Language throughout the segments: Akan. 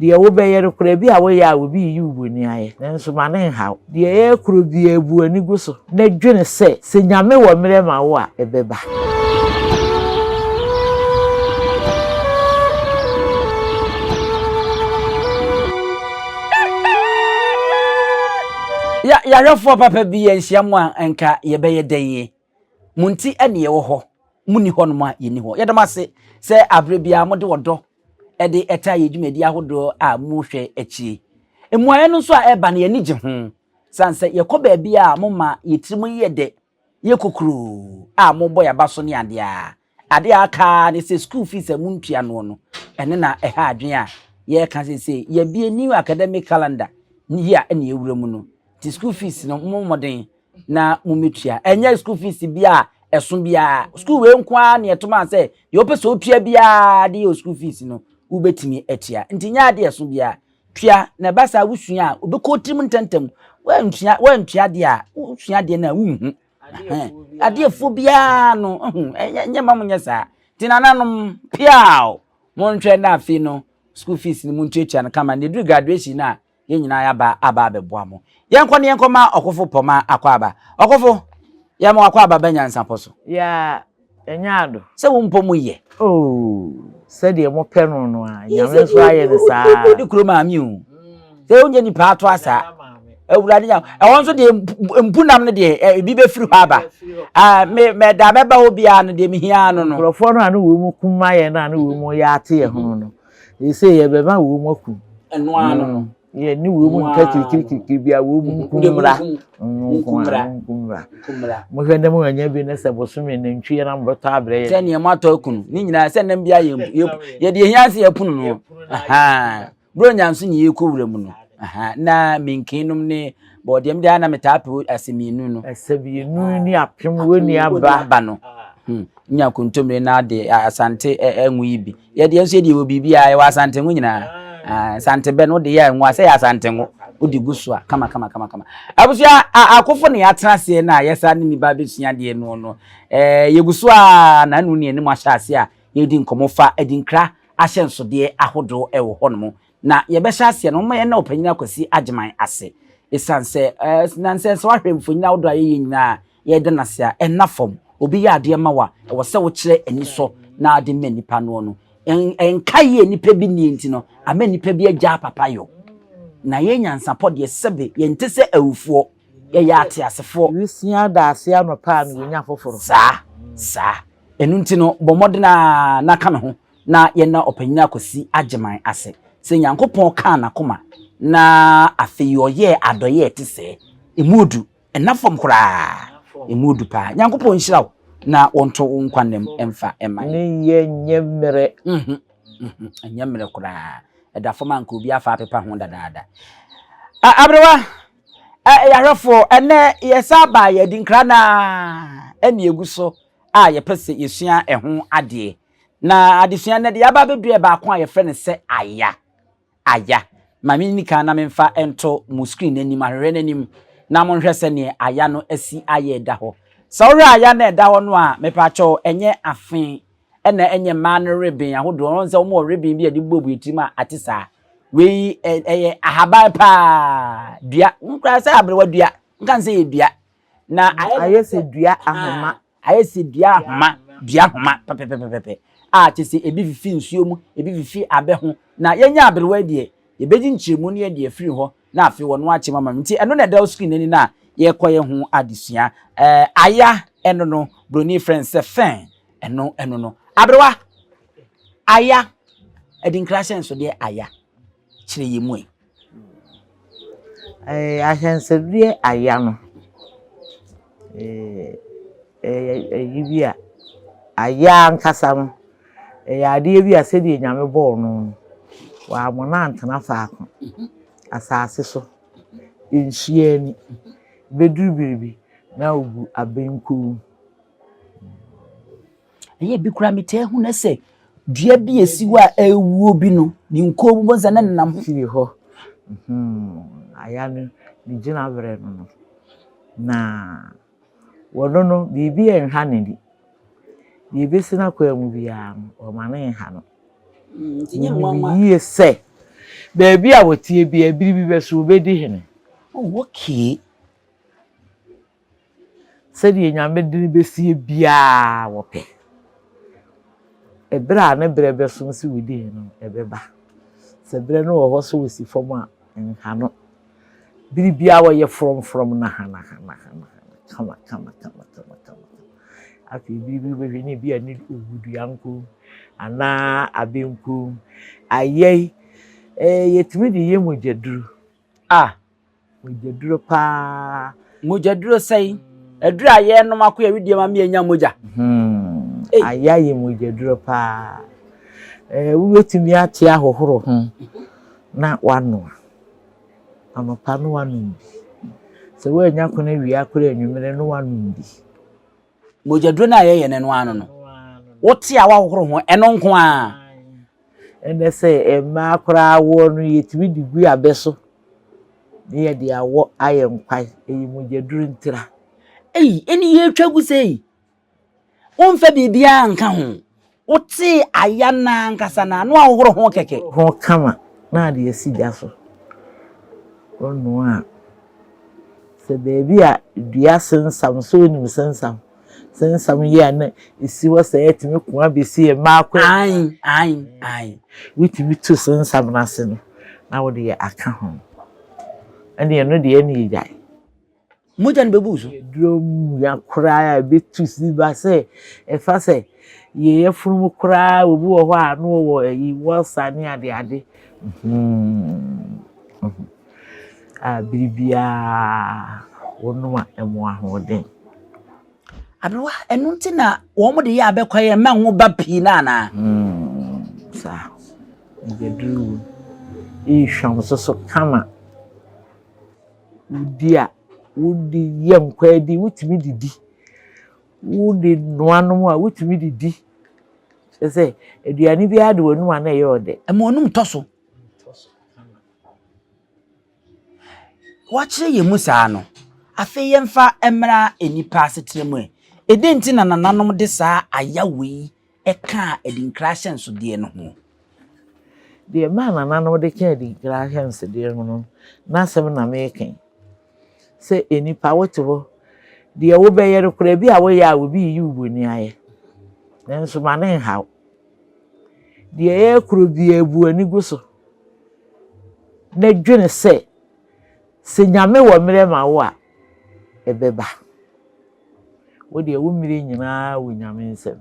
Deɛ wobɛyɛ no koraa, ebia woyɛ a obi reyi wo bɔne ayɛ, nanso ma no nhaw. Deɛ ɛyɛ koro biara, bu w'ani gu so na dwene sɛ, sɛ Nyame wɔ mmerɛ ma wo a, ɛbɛba. Yɛahwɛfoɔ papa bi yɛ nhyiam a anka yɛbɛyɛ dɛn yi? Mo nti na yɛwɔ hɔ, monni hɔnom a yɛnni hɔ. Yɛda mo ase sɛ aberɛ biara mode ɔdɔ de ɛtaa yɛn dwumadi ahodoɔ a mohwɛ akyire. Mmuaeɛ no nso a ɛba no yɛani gye ho, sane sɛ yɛkɔ baabi a moma yɛn tirim yɛ dɛ, yɛ kokuroo a mobɔ yɛn aba so ne adeɛ a Ade a aka ara ne sɛ school fees a montua noɔ no, ɛno na ɛha adwene a yɛreka seesei. Yɛabue new academic calendar ne year na yɛawura mu no, nti school fees no mommɔ mmɔden na mommɛtua. Ɛnyɛ school fees biara a ɛso biara, school wei nko ara na yɛto maa sɛ deɛ wopɛ sɛ wotua biara de yɛ wo school fees no, wobɛtumi atua. Nti nyɛ adeɛ a ɛso biara, tua, na ɛba saa a wosua a, ɛbɛkɔ wo tirim ntɛmntɛm. Woantua, woantua deɛ a, wosua adeɛ no a wonhu. adeɛfoɔ biara no ɛho ɛnyɛ ma mo nyɛ saa nti nananom piaw monhwɛ na afei no school fees no montuatua no kama na ɛduru graduation no a yɛn nyinaa yɛaba aba abɛboa mo yɛnkɔ ne yɛnkɔ ma ɔkofo pɔma akɔ aba ɔkofo yɛma wakɔ aba ba nyansapɔ so yeah. Ɛnyɛ ado. Sɛ wo mpɔ mu yɛ. Oh, sɛdeɛ mo pɛ no no ara, Nyame nso ayɛ no saa. Yɛ sɛ deɛ odi kuro maame o. Sɛ wo nyɛ nipa ato asa. Awurade nya, ɛhɔ nso deɛ mpunam no deɛ ebi bɛfiri hɔ aba. Me me da bɛba hɔ biara no deɛ mehia no no. Nkurɔfoɔ no a ne wɔn mu kuma yɛn no a ne wɔn mu yɛ ate yɛn ho no. Ese yɛbɛma wɔn mu akum. Ɛno ara no. Mm. Yɛ ne wɔn mu nka kirikirikiri bi a wɔn mu nkummra. Nkummra. Nkummra. Mohwɛ ne mu anya bi ne sɛ bosome nantwi yɛ na mobɛtɔ abrɛ yɛ. Sɛ nea moatɔ akunu ne nyinaa sɛ nam bi a yɛde yɛhia se yɛpono no. Aha. Bro nyanso ne yɛkɔ wura mu no. Aha. Na menkenom ne Bɔ deɛ mede a na metaa pɛ asɛmienu no. Asɛmienu ne apem wɔ ni aba. Aba no. Hmm. Nya kontomire na de asante ɛnwo yi bi. Yɛ deɛ nso yɛ deɛ wɔ biribi a ɛwɔ asante ngo nyinaa. Ah, asante bɛ no de yɛ ngo a sɛ yɛ asante ngo. Wode gu so a kama kama kama kama. Abusua akofo ne yɛatena aseɛ na yɛsa ne nipa bɛsua deɛ no no. Eh, yɛgu so a na anu ne anim ahyɛ aseɛ a yɛdi nkɔmmɔ fa adinkra ahyɛnsodeɛ ahodoɔ ɛwɔ hɔ nom. Na yɛbɛhyɛ aseɛ no, momma yɛnna Ɔpanyin Akwasi Agyeman ase ɛsiane sɛ nansɛ sɛ woahwɛ mfonyin ahodoɔ a yɛyɛ nyinaa a yɛreda no ase a, ɛnna fam. Obi yɛ adeɛ ma wo a, ɛwɔ sɛ wokyerɛ anisɔ na wode ma nipa noɔ no. Ɛnka yie nipa bi nnie nti no, ama nipa bi agyaa papa yɔ. Na yɛn nyansapɔ deɛ, sɛbe yɛnte sɛ awufoɔ, yɛyɛ ateasefoɔ. Wusua daaseɛ anɔpa a, na wanya foforɔ. Saa, saa. Ɛno nti no, bɔ mmɔden ara na ka me ho na yɛnna Ɔpanyin Akwasi Agyeman ase sɛ Nyankopɔn kaa n'akoma na afei ɔyɛɛ adɔeɛ a ɛte sɛɛ. Ɛmu ɔdu. Ɛnna fam koraa. Ɛmu ɔdu paa. Nyankopɔn nhyira wo na ɔnto wo nkwa nna mu mfa mma yɛn. Ne yɛ nyɛ mmerɛ. Mhm. Mhm. Ɛnyɛ mmerɛ koraa. Ɛda fam a nka obi afa apepa ho dadaada. A, aberewa, ɛ, ɛyɛ ahwɛfoɔ, ɛnnɛ yɛsan abaa yɛn adinkra no ara ɛnna yɛgu so a yɛpɛ sɛ yɛsua ɛho adeɛ. Na adesua nnɛ de yɛaba abɛduru ɛbaako a yɛfrɛ no sɛ aya. Aya. Ma menni kan na memfa nto mo screen no anim, ahwehwɛ no anim, na monhwɛ sɛdeɛ aya no asi ayɛ ɛda hɔ. Sɛ wohwɛ aya no a ɛda hɔ no a, mepaakyɛw ɛnyɛ afe ɛna ɛnyɛ mmaa no reben ahodoɔ, wohu sɛ wɔn wɔ reben bi a yɛde buebue tirim a ate saa. Wei ɛyɛ ahaban paa, dua, wohu koraa sɛ aberewa dua, nka no sɛ ɛyɛ dua. Na ayɛ sɛ dua ahoma. Ayɛ sɛ dua nhoma, dua nhoma pɛpɛpɛpɛpɛ a kyerɛ sɛ ebi fifi nsuo mu, ebi fifi abɛ ho. Na yɛnya aberewa yi deɛ, yɛbɛgye nkyerɛmu no yɛde afiri hɔ na afei wɔno akyɛ mu ama me. Nti ɛno na ɛda wo screen no ani no a yɛrekɔyɛ ho adesua. Ɛɛ aya ɛno no, Buroni frɛ no sɛ fern, ɛno ɛno no. Aberewa, aya, adinkra ahyɛnsodeɛ aya, kyerɛ yɛn mu ɛ. Ahwɛnsɛdeɛ aya no, ɛyɛ ayi bi a, aya ankasa no, ɛyɛ adeɛ bi a sɛdeɛ Nyame bɔɔ no no, wamma no antena faako. Asase so, nhyia ani, bɛduru baabi na ɔgu abɛnkuu. Ɛyɛɛ bi koraa metaa hu na sɛ dua bi a ɛsi hɔ a ɛrewuo bi no, ne nkoo bobɔ nsa na nenam ho. Fie hɔ. Aya no ne gyina berɛ no no, na wɔno no biribi a ɛnha n'ani. Deɛ ɛbɛsi n'akwan mu biara no, wɔma no nha no. Menim yie sɛ baabi a wɔteɛ biara, biribi bɛso wɔbɛdi hene. Oh, okay. Sɛdeɛ Nyame de no bɛsie biara wɔpɛ. Ɛberɛ a ne berɛ bɛso nso within no ɛbɛba. Sɛ berɛ no wɔhɔ sɛ wɔsi fam a nhano. Bere biara wɔyɛ frɔm frɔm nahana hana hana hana kama kama kama kama kama. Afei bere bi wobɛhwɛ ne bi a ne owu dua nko anaa abɛ nko ayɛi. Ɛɛ yɛtumi de yɛ mogya duru. Ah! Mogyaduro paa. Mogyaduro sɛn? Aduro a yɛnom ako yɛ wedeɛ ma me anya mogya. Hmm. Aya yɛ mogyaduro paa. Eh, wobɛtumi ate ahohoro ho na wanoa. Anɔpa no wanom bi. Sɛ woanya kono awia kora anwummere no wanom bi. mogyaduro no a yɛyɛ no no ano no wote a woahohoro ho ɛno nko a ɛnɛ sɛ mmaa koraa woɔ no yɛtumi de gu abɛ so ne yɛde awɔ ayɛ nkwae ɛyɛ mogyaduro ntira ei ɛne yɛtwa gu sɛ ei womfa biribiara nka ho Wotsee aya no ankasa na ano ahohor ho kɛkɛ. Ho kama na adze esi gya so ronoa a, sɛ beebi a dua sensam so enyim sensam sensam yie a na esi hɔ sɛ etumi kõ abesi yɛ mako a. Ae, ae, ae. Wotumi tu sensam no ase no na wode yɛ akã ho. Ɛnde ɛno deɛ ɛne egyae. mogya no bɛbu wo so. Yɛduro mia koraa a ɛbɛtu si ba sɛ ɛfa sɛ yɛn afunumu koraa obi wɔ hɔ a na ɔwɔ ayi wɔsa ne adeade a bere biara wɔnom a ɛmo ahoɔden. Aberewa ɛno nti na wɔn de yɛ abɛkwa yɛ mma ngo ba pii na anaa. Saa yɛduro yi hwam soso kama. Wodi a, wodi yɛ nkwaadi wotumi de di. Wode noa nom a, wotumi de di. Kyerɛ sɛ, aduane biara de w'anom a na ɛyɛ wo dɛ. Ɛma w'anom tɔ so. Wɔakyerɛ yɛn mu saa no, afei yɛmfa mmra nnipa asetra mu ɛ. Ɛdɛn nti na nananom de saa ayaw yi kaa adinkra ahyɛnsodeɛ no ho. Deɛ ɛmaa nananom de kaa adinkra ahyɛnsodeɛ ho no, n'asɛm na mereka yi. Sɛ nnipa wote hɔ, deɛ wobɛyɛ no koraa bi a woyɛ a obi reyi wo bɔni ayɛ. Nanso ma ne nha wo. Deɛ ɛyɛ koro biara bu ani gu so na dwene sɛ, sɛ Nyame wɔ mmerɛ ma wo a, ebɛba. Wo deɛ wo mmire nyinaa wɔ Nyame nsam.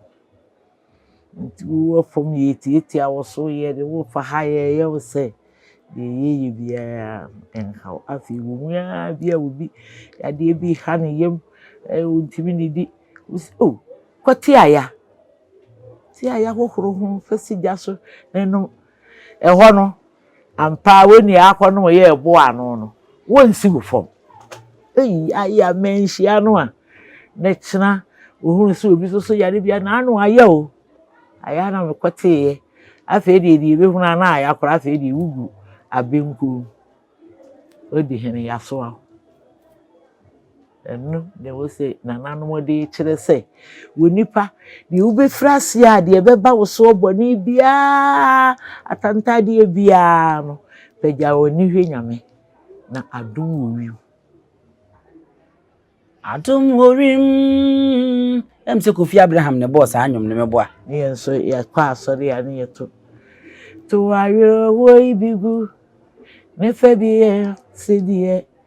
Nti wo wɔ fam yɛtiatia wo so, yɛde wo fa ha, yɛyɛ wo sɛ deɛ yɛyɛ biara nhaw. Afei wɔ mu ara bi a obi yadeɛ bi ha ne yam, ɔntumi ne di, wo sɛ o, kɔ te aya. Te aya hohoro ho fa si gya so na nom. Ɛhɔ no Ampa ara wonua akɔnnɔ a ɔyɛɛ bo ano no, wonsiw fam. Ei, ae a manhyia no a na kyena ohuu sɛ obi soso yare bi a, n'ano ayɛ o. Ae a na mekɔteeɛ. Afei deɛ deɛ ebehunu a na ayɛ akora afei deɛ wugu abenkurom. Odi hene, yɛasoa wo. Ɛno na ɛwɔ sɛ nananom de kyerɛ sɛ, Onipa, deɛ wobɛfiri aseɛ a, deɛ ɛbɛba wo soɔ bɔne biara, atantadeɛ biara no, pagya w'ani hwɛ Nyame, na adom wɔ wiem. Adom wɔ wiem. Ɛm sɛ Kofi Abraham na ɛbɔɔ saa nnwom no, meboa? Ne yɛn nso yɛkɔ asɔre a, ne yɛto to awerɛhoɔ yi bi gu ne fɛ bi yɛ sɛdeɛ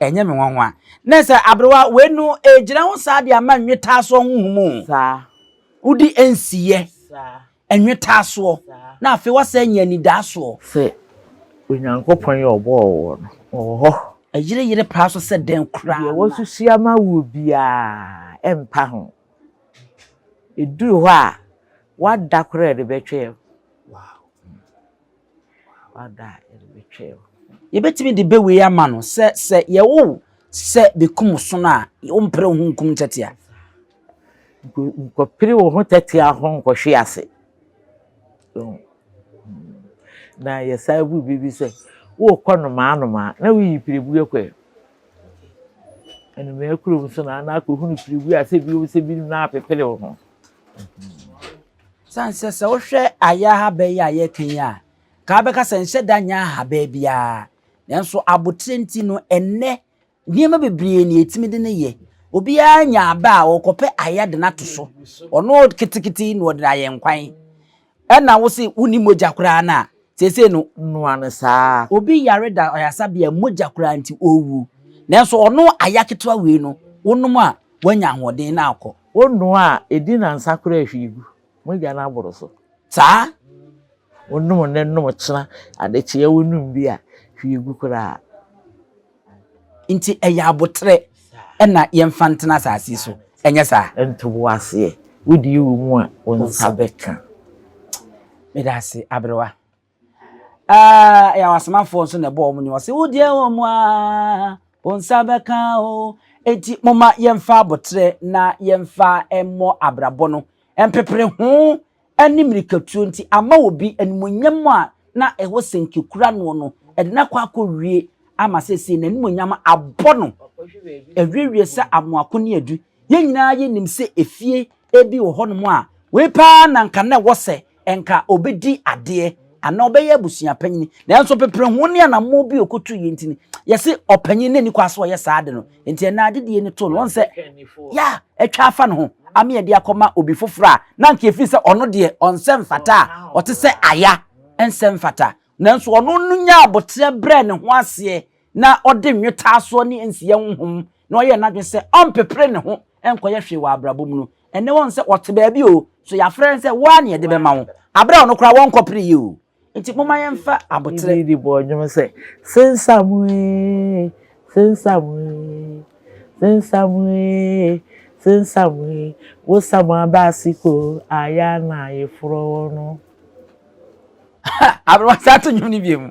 Ɛnyɛ me nwanwa. Nɛ sɛ aberewa wei no ɛɛgyina ho saa de ama nnwetaasoɔ ho nhumu o. Saa. Wode ɛnsiiɛ. Saa. Nnwetaasoɔ. Saa. Na afei woasan anya anidaasoɔ. Sɛ Onyankopɔn yɛ ɔbɔɔ woɔ no, ɔwɔ hɔ. Ɛyere yere paa so sɛ dɛn koraa na. Deɛ wasusu ama woɔ biara ɛmpa ho. Ɛduru hɔ a, woada koraa de bɛtwɛɛ wo. Wow. Yɛbɛtumi de bɛ wei ama no sɛ sɛ yɛwo wo sɛ bɛkum wo sono a wompere wo ho nkum ntɛtea. Nkɔpere wo ho tɛtea ho nkɔhwe ase. Na yɛsan bu bi bi sɛ worekɔ nomaa nomaa na woyi pirebuo kɔ ɛ. Anomaa kurom so na na akɔhunu pirebuo a sɛ bi wɔ sɛ bi na apepere wo ho. Ɛsiane sɛ sɛ wohwɛ ayɛ ahaban yi a yɛreka yi a, nka wobɛka sɛ nhyɛ da nyɛ ahaban biara. Nanso abotire nti no, ɛnnɛ nneɛma bebree na yɛtumi de no yɛ. Obiara nya aba a ɔkɔpɛ ayɛ de no ato so. Ɔno ketekete yi na ɔde ayɛ nkwan. Ɛna wo se wonni mogya koraa no a, seesei no, noa no saa. Obi yare da ayasabea mogya koraa nti ɔrewu. Nanso ɔno ayɛ ketewa wei no, wonom a, woanya ahoɔden na akɔ. Wo nnoa a ɛdi nnansa koraa hwi gu mogya no aboro so. Saa! Wonom nnɛ nom ɔkyena adekyeɛ wonom bi a hwi gu koraa. Nti ɛyɛ aboterɛ na yɛmfa ntena asase so, ɛnyɛ saa? Nto wo aseɛ, wodie wɔ mu a wo nsa bɛka. Meda ase aberewa. Aah ɛyɛ wɔn asomafoɔ nso na ɛbɔ wɔn nnwom ɔse wo deɛ wɔ mu aa wo nsa bɛka o enti moma yɛmfa aboterɛ na yɛmfa mmɔ abrabɔ no mpepere ho ɛne mirikatuo nti ama wɔ bi animonyam a na ɛwɔ sɛnke kura noɔ no ɛde no akɔ akɔ wie ama sɛsei n'animonyam abɔ no awiewie sɛ amoako ne adu Yɛn nyinaa yenim sɛ efie bi wɔ hɔnom a, wei paa na anka na ɛwɔ sɛ anka obedi adeɛ anaa ɔbɛyɛ abusua panyin. Nanso pepereho ne anammɔn bi a okotuiɛ nti no, yɛse ɔpanyin no nni kwan sɛ ɔyɛ saa ade no. Enti ɛnna adedie no too no, wahu sɛ ya atwa afa ne ho ama yɛde akɔma obi foforɔ a na anka yɛfiri sɛ ɔno deɛ ɔnsɛ mfata a ɔte sɛ aya nsɛ mfata. Nanso ɔno no nyaa aboterɛ brɛɛ ne ho aseɛ na ɔde nnwetaasoɔ ne nsiyɛ honhom na ɔyɛɛ n'adwene sɛ ɔmpepere ne ho nkɔyɛ hwee wɔ abrabɔ mu no, ɛnnɛ wahu sɛ ɔte baabi o, so yɛafrɛ no sɛ wo ara na yɛde bɛma wo, aberɛ a ɔno koraa wɔnkɔpereeɛ o. Nti momma yɛmfa aboterɛ. Didi bɔɔ nnwom sɛ, Sensam ee, sensam ee, sensam ee, sensam ee, wo sam aba ase ko a, yɛ a na yeforɔ wo no. Aberɛ wasan to nnwom no bio mu.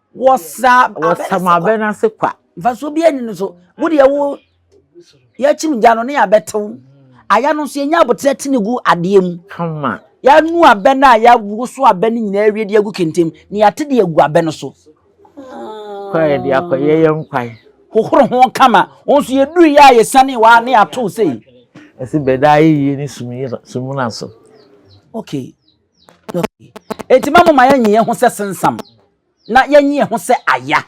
wɔsa wɔsam abɛ no ase kwa mfasoɔ bi ani no so wo deɛ wo yɛkyim gya no ne yɛabɛtew aya no nso yɛnya aboterɛ te ne gu adeɛ mu kama yɛanu abɛ no a yɛawoso abɛ no nyinaa awie de agu kentem na yɛate de agu abɛ no so kwa yɛde akɔyɛ yɛ nkwae hohoro ho kama wo nso yɛduru yɛ a yɛsane waa ne yɛatow sei ɛsi bɛda ayɛ yie ne sumuna so okay Enti ma moma yɛnye yɛn ho sɛ sensam, na yɛnye yɛn ho sɛ aya,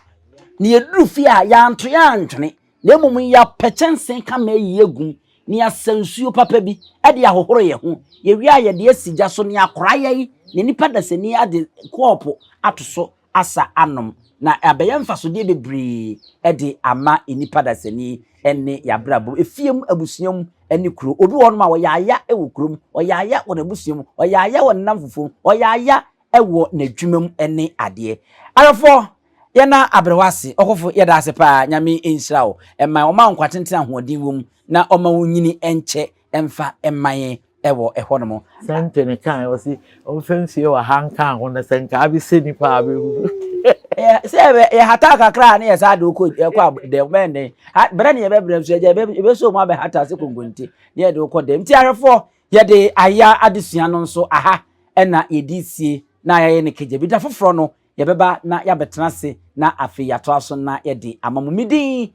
na yɛduru fie a yɛanto yɛantwene, na mmom yɛapɛ kyɛnsee ka ma ayi agum, na yɛasa nsuo papa bi de ahohoro yɛn ho, yɛwie a yɛde asi gya so, na yɛakora yɛn ne nnipa dasani de kɔɔpo ato so asa anom, na abɛyɛ mfasodeɛ bebree de ama nnipa dasani ne yɛn abrabɔ mu, efie mu, abusua mu, ne kuro. Obi wɔ hɔnom a, ɔyɛ aya wɔ kuro mu, ɔyɛ aya wɔ n'abusua mu, ɔyɛ aya wɔ ne nnamfofoɔ mu, ɔyɛ aya wɔ n'adwuma mu ne adeɛ. Awɛfoɔ, yɛna abrɛ wo ase. Ɔkofo, yɛda ase paa. Nyame nhyira wo. Ɛma ɔma wo nkwa tenten a ahoɔden wɔ mu, na ɔma wo nyini nkyɛ mfa mma yɛn wɔ hɔnom. Sɛnte no kae, ɔse ɔmfa nsie wɔ ha nka ho na sɛ nka abɛsɛ nnipa a bɛhunu. Sɛ yɛhata kakra a ne yɛsaa de wokɔ dɛm, bɛyɛ nnɛ berɛ ne yɛbɛbrɛ nso agya yɛbɛsɔ mu abɛhata sɛ konkonte ne yɛde wokɔ dɛm. Nti ahwɛfoɔ yɛde ayɛ adesua no nso aha ɛna yɛde sie na yɛayɛ ne kagya bi. Da foforɔ no yɛbɛba na yɛabɛtena ase na afei yɛatoa so na yɛde ama mo. Medin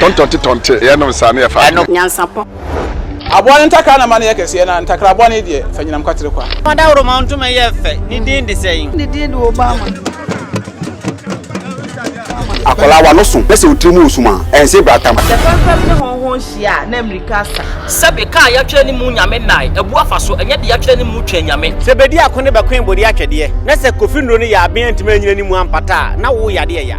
Tɔntɔnte tɔnte, yɛ nom saa na yɛ fa adwene. Nyansapɔ. Aboa no ntakra na ma no yɛ kɛseɛ na ntakra boa no deɛ fa nyinam kwatere kwa. Fa daworo ma wo ntoma yɛ fɛ ne din de sɛn. Ne din de Obama. Akwadaa wa no so na sɛ otiri mu wɔ sum a ɛnse bra tam. Sɛ fɛmfɛm ne hɔnhɔn hyia a na mmirika asa. Sɛbe kaa yɛatwerɛ ne mu nyame nnae abu afa so ɛnyɛ de yɛatwerɛ ne mu twɛn nyame. Sɛ bedi ako ne bɛkoe bode atwɛdeɛ na sɛ kofi nnuro no yɛ aben antumi anyina ne mu ampata a na wo yade ɛya.